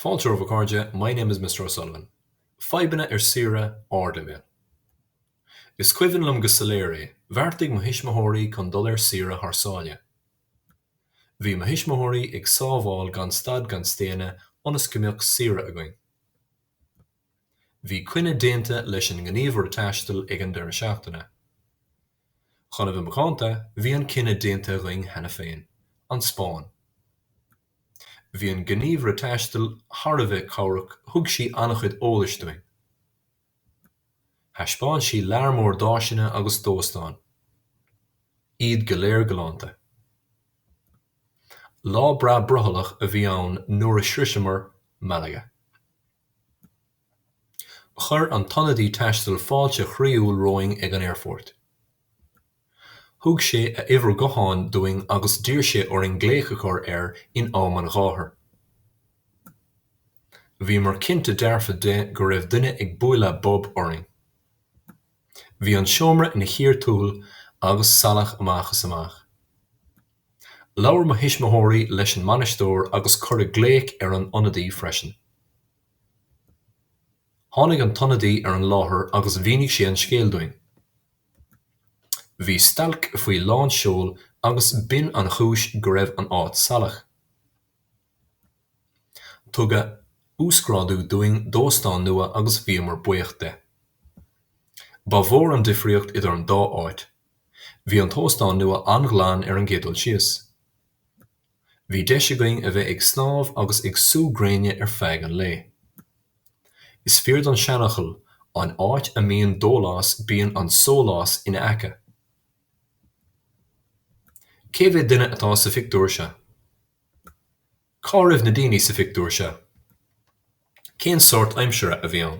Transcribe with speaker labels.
Speaker 1: Fáilte romhaibh a chairde My name is Mr O'Sullivan. Fadhbanna ar saoire, ardleibhéal. Is cuimhin liom go soiléir é, bheartaigh mo thuismitheoirí chun dul ar saoire thar sáile. Bhí mo thuismitheoirí ag sábháil gan stad gan staonadh ionas go mbeadh saoire againn. Bhí coinne déanta leis an ngníomhaire taistil ag an deireadh seachtaine. Chun a bheith macánta, bhí an cinneadh déanta againn cheana féin, an Spáinn. Bhí an gníomhaire taistil thar a bheith cabhrach, thug sí an-chuid eolais dúinn. Thaispeáin sí lear mór d'áiseanna agus d'óstáin. Iad go léir galánta. Lá breá brothallach a bhí ann nuair a shroicheamar Malaga. Chuir an t-ionadaí taistil fáilte chroíúil romhainn ag an aerfort. Thug sé a uimhir gutháin dúinn agus d'iarr sé orainn glaoch a chur air in am an ghátair. Bhíomar cinnte dearfa de go raibh duine ag bualadh bob orainn. Bhí an seomra ina chíor thuathail agus salach amach is amach. Labhair mo thuismitheoirí leis an mbainisteoir agus cuireadh glaoch ar an ionadaí freisin. Tháinig an t-ionadaí ar an láthair agus mhínigh sé an scéal dúinn. Bhí stailc faoi lán seoil agus b'in an chúis go raibh an áit salach. Tugadh uasghrádú dúinn d'óstán nua agus bhíomar buíoch de. Ba mhór an difríocht idir an dá áit. Bhí an t-óstán nua an-ghlan ar an gcéad dul síos. Bhí deis againn a bheith ag snámh agus ag sú gréine ar feadh an lae. Is fíor don seanfhocal, An áit a mbíonn dólás bíonn an sólás ina aice. Cé mhéad duine atá sa phictiúr seo? Cá raibh na daoine sa phictiúr seo? Cén sórt aimsire a bhí ann?